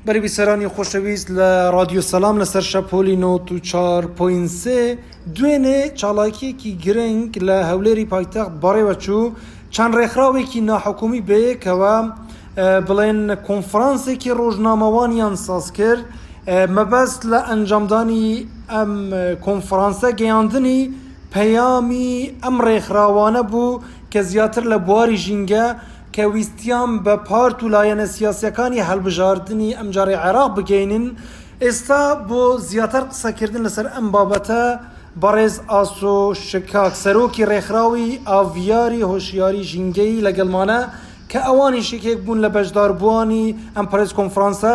بەرەبیسەرانی خۆشەویست لە رادیۆ سەسلام لەسەر شەپۆلی 94.3 دوێنێ چاڵاکیەکی گرنگ لە هەولێری پایتەخت بەڕێوەچوو چەند ڕێکخراوێکی ناحکومی بەیەکەوە بڵێن کۆنفرانسێکی ڕۆژنامەوانیان ساز کرد مەبەست لە ئەنجامدانی ئەم کۆنفرانسە گەیاندنی پەیامی ئەم ڕێکخراوانە بوو کە زیاتر لە بواری ژینگە کە ویستیان بە پارت و لایەنە سیاسییەکانی هەڵبژاردنی ئەمجارەی عێراق بگەینن، ئێستا بۆ زیاتر قسەکردن لەسەر ئەم بابەتە، بەڕێز ئاسۆ شکاک، سەرۆکی رێکخراوی ئاڤیاری هۆشیاری ژینگەیی لەگەڵمانە، کە ئەوانیش یەکێک بوون لە بەشداربووانی ئەم پرێس کۆنفرانسە،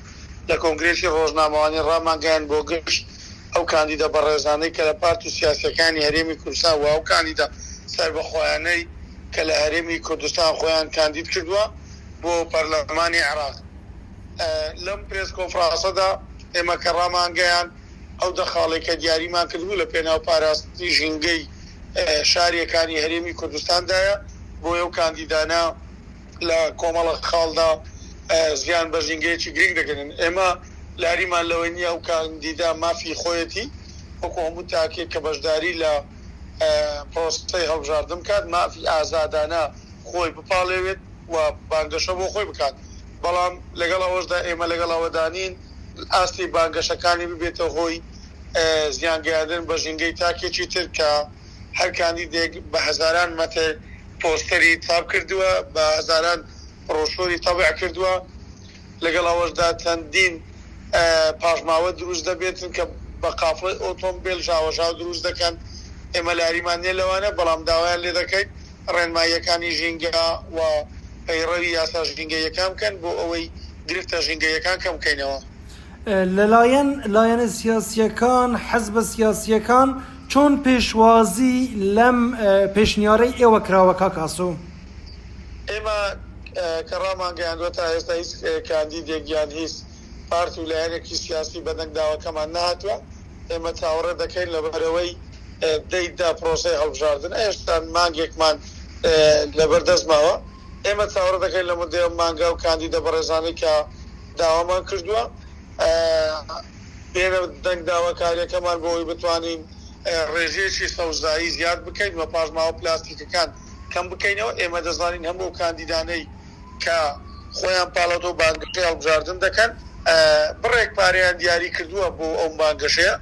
لە کۆنگرێسی ڕۆژنامەوانی ڕامانگەیاند بۆ گشت ئەو کاندیدە بەڕێزانەی کە لە پارت و سیاسیەکانی هەرێمی کوردستان وئەو کاندیدە سەربەخۆیانەی کە لە هەرێمی کوردستان خۆیان کاندید کردوە بۆ پەرلەمانی عێراق لەم پرێس کۆنفڕاسەدا ئێمە کە ڕامانگەیاند ئەو دە خاڵەی کە دیاریمان کردبوو لە پێناو پاراستنی ژینگەی شاریەکانی هەرێمی کوردستاندایە بۆیەو کاندیدانە لە کۆمەڵە خاڵدا ژیان بە ژینگەیەکی گرنگ دەگەنێن. ئێمە لاریمان لەوەی نییە ئەو کاندیدە مافی خۆیەتی وەکو هەموو تاکێک کە بەشداری لە پرۆسەی هەڵبژاردن بکات مافی ئازادانە خۆی بپاڵێوێت و بانگەشە بۆ خۆی بکات بەڵام لەگەڵ ئەوەشدا ئێمە لەگەڵ ئەوەدا نین ئاستی بانگەشەکانی ببێتە هۆی زیان گەیاندن بە ژینگەی تاکێکی تر کە هەر کاندیدێک بە هەزاران مەتر پۆستەری چاپ کردووە، بە هەزاران بڕۆشوری تەبع کردووە، لەگەڵ ئەوەشدا چەندین پاشماوە دروست دەبێتن کە بە قافڵەی ئۆتۆمبێل ژاوەژاو دروست دەکەن، ئێمە لەاریمان نیە لەوانە، بەڵام داوایان لێ دەکەین ڕێنماییەکانی ژینگە و پەیڕەوی یاسا ژینگەییەکان بکەن بۆ ئەوەی گرفتە ژینگەییەکان کەم بکەینەوە. لەلایەن لایەنە سیاسییەکان، حزبە سیاسییەکان چۆن پێشوازی لەم پێشنیارەی ئێوە کراوە کاک ئاسۆ؟ ئێمە کە ڕامانگەیاندوە تا ئێستا هیچ کاندیدێک یان هیچ پارت و لایەنێکی سیاسی بە دەنگداوەکەمان نەهاتوە، ئێمە چاوەڕێ دەکەین لەبەرئەوەی دەی دە پرۆسەی هەڵبژاردن ئێستا مانگێکمان لەبەردەست ماوە، ئێمە چاوەڕێ دەکەین لەمەو دەیەم مانگا و کاندیدە بەڕێزانەی کە داوامان کردووە بێنە دەنگ داواکاریەکەمان بۆ ئەوەی بتوانین ڕێژەیەکی سەوزایی زیاد بکەین و پاشماوە پلاستیکەکان کەم بکەینەوە، ئێمە دەزانین هەموو ئەو کاندیدانەی کە خۆیان پاڵەوتۆ بانگەشەی هەڵبژاردن دەکەن بڕێک پارەیان دیاری کردووە بۆ ئەو بانگەشەیە،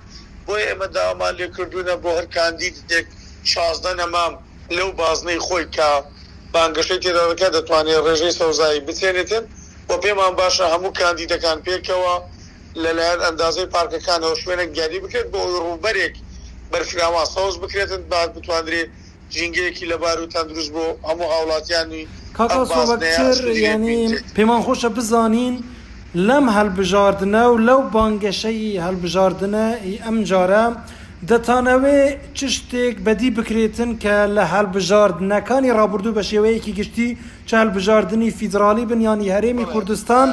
بۆیە ئێمە داوامان لێ کردوونە بۆ هەر کاندیدێک شازدە نەمام لەو بازنەی خۆی کە بانگەشەی تێدا دەکات دەتوانێت ڕێژەی سەوزایی بچێنێتێ. و پێمان باشە هەموو کاندیدەکان پێکەوە لەلایەن ئەندازەی پارکەکانەوە شوێنێک دیاری بکرێت بۆ ئەوەی ڕووبەرێک بەرفراوان سەوز بکرێتن با بتواندرێ ژینگەیەکی لەبار و تەندروست بۆ هەموو هاوڵاتیانی کاکە ئەم سۆبەک بازنەیە چر سنووری یەک یانی بینرێت. پێمان خۆشە بزانین لەم هەلبژاردنە و لەو بانگەشەی هەلبژاردنە ی ئەم جارە دەتانەوێ چ شتێک بەدی بکرێتن کە لە هەلبژاردنەکانی ڕابوردوو بە شێوەیەکی گشتی چ هەلبژاردنی فیدرالی بن یان ی هەرێمی کوردستان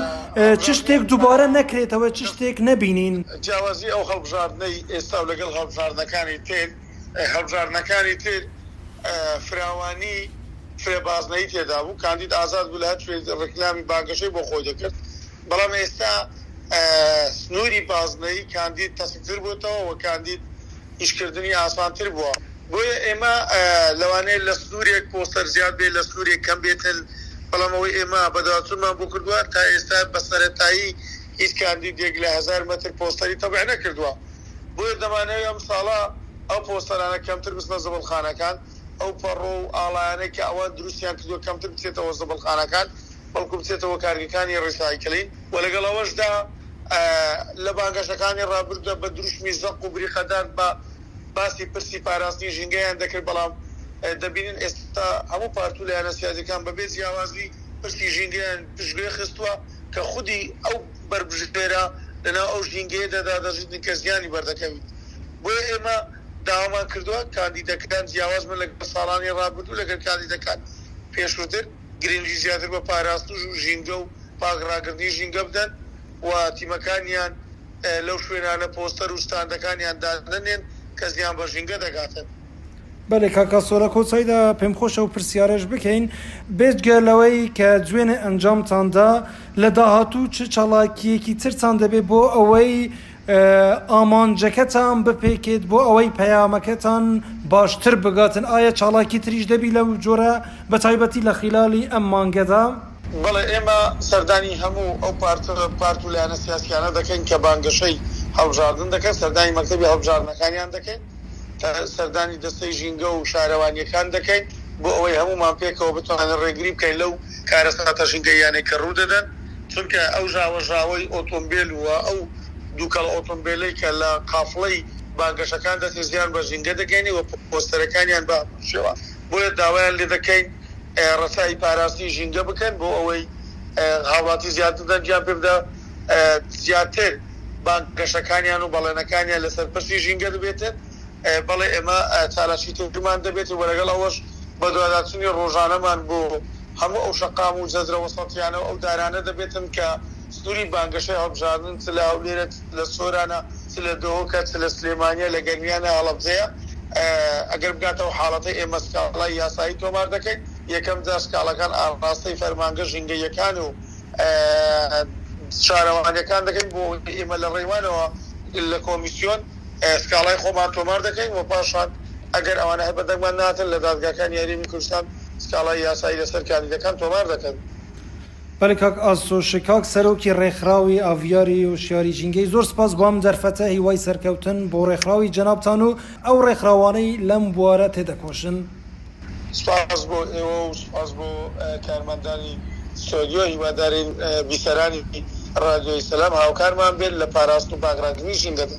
چ شتێک دوبارە نەکرێتەوە چ شتێک نەبینین. جیاوازی ئەو هەڵبژاردنەی ئێستا و لەگەڵ هەڵبژاردنەکانی تر هەڵبژاردنەکانی تر فراوانی فرە بازنەیی تێدا بوو کاندید ئازاد بوو لە هەر کوێ ڕیکلامی بانگەشەی بۆ خۆی دەکرد بەڵام ئێستا سنوری بازنەیی کاندید تەسکتر بۆتەوە وە کاندید ئیشکردنی ئاسانتر بووە بۆیە ئێمە لەوانەیە لە سنوورێک پۆستەر زیاد بێت لە سنوورێک کەم بێتن بەڵام ئەوەی ئێمە بەدواداچوونمان بۆ کردووە تا ئێستا بە سەرەتایی هیچ کاندیدێک لە هەزار مەتر پۆستەری تەبع نەکردووە بۆیە دەمانەوێت ئەمساڵە ئەو پۆستەرانە کەمتر بچنە زبڵخانەکان ئەو پەڕۆ و ئاڵایانەی کە ئەوان دروستیان کردووە کەمتر بچێتەوە زبڵخانەکان بەڵکو بچێتەوە کارگەکانی ڕیسایکلین و لەگەڵ ئەوەشدا لە بانگەشەکانی ڕابردوودا بە دروشمی زەق و بریقەدار بە باسی پرسی پاراستنی ژینگەیان دەکرد، بەڵام دەبینن ئێستا هەموو پارت و لایەنە سیاسیەکان بەبێ جیاوازی پرسی ژینگەیان پشتگوێ خستووە کە خودی ئەو بەربژێرە لەناو ئەو ژینگەیەدادا دەژیت کە زیانی بەردەکەویت بۆیە ئێمە داوامان کردووە کاندیدەکان جیاواز بن لەگەڵ ساڵانی ڕابردوو لەگەل کاندیدەکان پێشووتر. گرنگی زیاتر بە پاراستنش و ژینگە و پاک ڕاگرتنی ژینگە بدەن و تیمەکانیان لەو شوێنانە پۆستەر و ستاندەکانیان دادەنێن کە زیان بە ژینگە دەگاتن. بەلێ کاک ئاسۆ لە کۆتایدا پێم خۆشە ئەو پرسیارەش بکەین بێجگە لەوەی کە جوێنێ ئەنجامتان دا لە داهاتوو چ چالاکیەکی ترتان دەبێ بۆ ئەوەی ئامانجەکەتان بپێکێت بۆ ئەوەی پەیامەکەتان باشتر بگاتن ئایا چاڵاکی تریش دەبی لەو جۆرە بەتایبەتی لە خیلالی ئەم مانگەدا؟ بەڵێ ئێمە سەردانی هەموو ئەو پارتە پارت و لایەنە سیاسیانە دەکەین کە بانگەشەی هەڵبژاردن دەکەن سەردانی مەکتەبی هەڵبژاردنەکانیان دەکەین سەردانی دەستەی ژینگە و شارەوانیەکان دەکەین بۆ ئەوەی هەموومان پێکەوە بتوانین ڕێگری بکەین لەو کارەساتە ژینگەییانەی کە ڕوو دەدەن. چونکە ئەو ژاوەژاوەی ئۆتۆمبێل و ئەو دووکەڵ ئۆتۆمبێلەی کە لە قافڵەی بانگەشەکان دەچێت زیان بە ژینگە دەگەینێ و پۆستەرەکانیان بە هەمان شێوە بۆیە داوایان لێ دەکەین ڕەچاوی پاراستنی ژینگە بکەن بۆ ئەوەی هاوڵاتی زیاتر دەنگیان پێ بدا زیاتر بانگەشەکانیان و بەڵێنەکانیان لەسەر پرسی ژینگە دەبێتێت بەڵێ ئێمە چالاکیترمان دەبێت و لەگەڵ ئەوەش بەدواداچوونی ڕۆژانەمان بۆ هەموو ئەو شەقام و جەزرە وەسەتیانە و ئەو دارانە دەبێتن کە سنووری بانگەشەی هەڵبژاردن چ لە هەولێرە چ لە سۆرانە چ لە دهۆکە چ لە سلێمانییە لە گەرمیانە هەڵەبجەیە ئەگەر بگاتەوە حاڵەتە ئێمە سکاڵای یاسایی تۆمار دەکەین یەکەم جار سکاڵاکان ئاڕاستەی فەرمانگە ژینگەییەکان و شارەوانییەکان دەکەین بۆ ئەوەی ئێمە لە ڕێوانەوە لە کۆمیسیۆن سکاڵای خۆمان تۆمار دەکەین و پاشان ئەگەر ئەوانە هەر بە دەنگمان ناتن لە دادگاکانی هەرێمی کوردستان سکاڵای یاسایی لەسەر کاندیدەکان تۆمار دەکەن. بەلی کاک ئاسۆش کاک سەرۆکی ڕێکخراوی ئاڤیاری و شاری ژینگەی زۆر سپاس بۆم دەرفەتە هیوای سەرکەوتن بۆ ڕێکخراوی جەنابتان و ئەو ڕێکخراوانەی لەم بوارە تێدەکۆشن. سپاس بۆ ئێوە و سپاس بۆ کارمەندانی ستۆدیۆ هیوادارین بیسەرانی ڕادیۆی سەلام هاوکارمان بێت لە پاراستن و پاکڕاگرتنی ژینگەدا.